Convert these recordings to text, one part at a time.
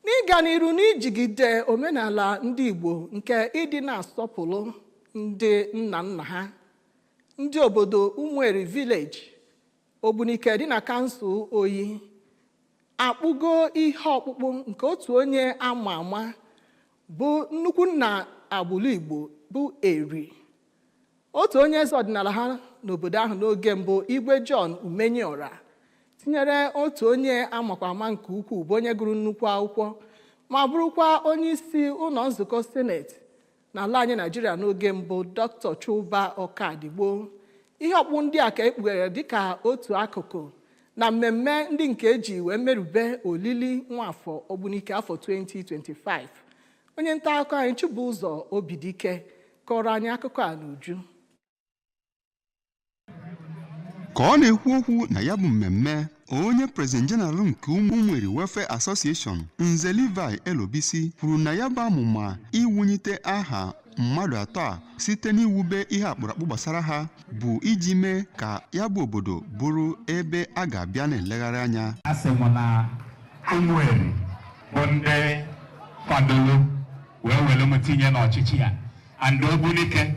n'ịga n'iru n'ijigide omenala ndị Igbo nke ịdị na-asọpụrụ ndị nna nna ha ndị obodo Ụmụeri vileji Ogbunike dị na kansụl Oyi akpụgo ihe ọkpụkpụ nke otu onye ama ama bụ nnukwu nna agbụrụ Igbo bụ Eri otu onye eze ọdịnala ha n'obodo ahụ n'oge mbụ igwe John Umenyiora tinyere otu onye amakwa ama nke ukwuu bụ onye gụrụ nnukwu akwụkwọ ma bụrụkwa onye isi ụlọ nzukọ seneti n'ala anyị naijiria n'oge mbụ dr chuba ọkadigbo ihe ọkpụ ndị a ka e kpughere dịka otu akụkụ na mmemme ndị nke e ji wee merube olili nwafọ ogbunike afọ 2025 onye nta akụkọ anyị chibụzọ obidike kọrọ anyị akụkọ a n'uju ka ọ na-ekwu okwu na ya bụ mmemme onye prezident jeneral nke ụmụeri welfare association nze levi elobisi kwuru na ya bụ amụma iwunyite aha mmadụ atọ a site n'iwube ihe akpụrụakpụ gbasara ha bụ iji mee ka ya bụ obodo bụrụ ebe a ga-abịa na-elegharị anya asị m na ụmụeri bụ ndị kwadoro wee were m tinye n'ọchịchị ya and Ogbunike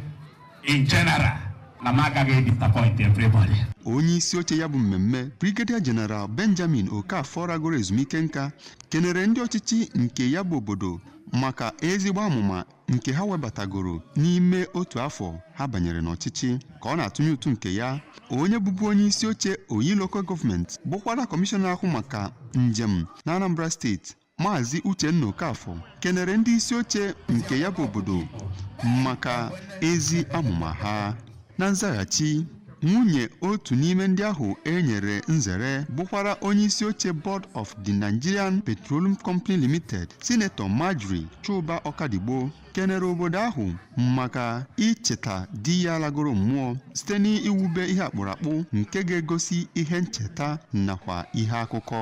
in general na m agaghị edisappoint everybody. onye isi oche ya bụ mmemme brigadier general benjamin okafor ragoro ezumike nka kenere ndị ọchịchị nke ya bụ obodo maka ezigbo amụma nke ha webatagoro n'ime otu afọ ha banyere n'ọchịchị ka ọ na-atụnye ụtụ nke ya onye bụbu onye isi oche oyi local gọọmenti bụkwara kọmishọna na-ahụ maka njem na anambra steeti Maazị Uchenna Okafọ kenere ndị isi oche nke ya bụ obodo maka ezi amụma ha. Na nzaghachi, nwunye otu n'ime ndị ahụ e nyere nzere bụkwara onye isi oche Board of the Nigerian Petroleum Company Limited, Sinetọ Margery Chuba Ọkadigbo kenere obodo ahụ maka icheta di ya lagoro mmụọ site n'iwube ihe akpụrụakpụ nke ga-egosi ihe ncheta nakwa ihe akụkọ.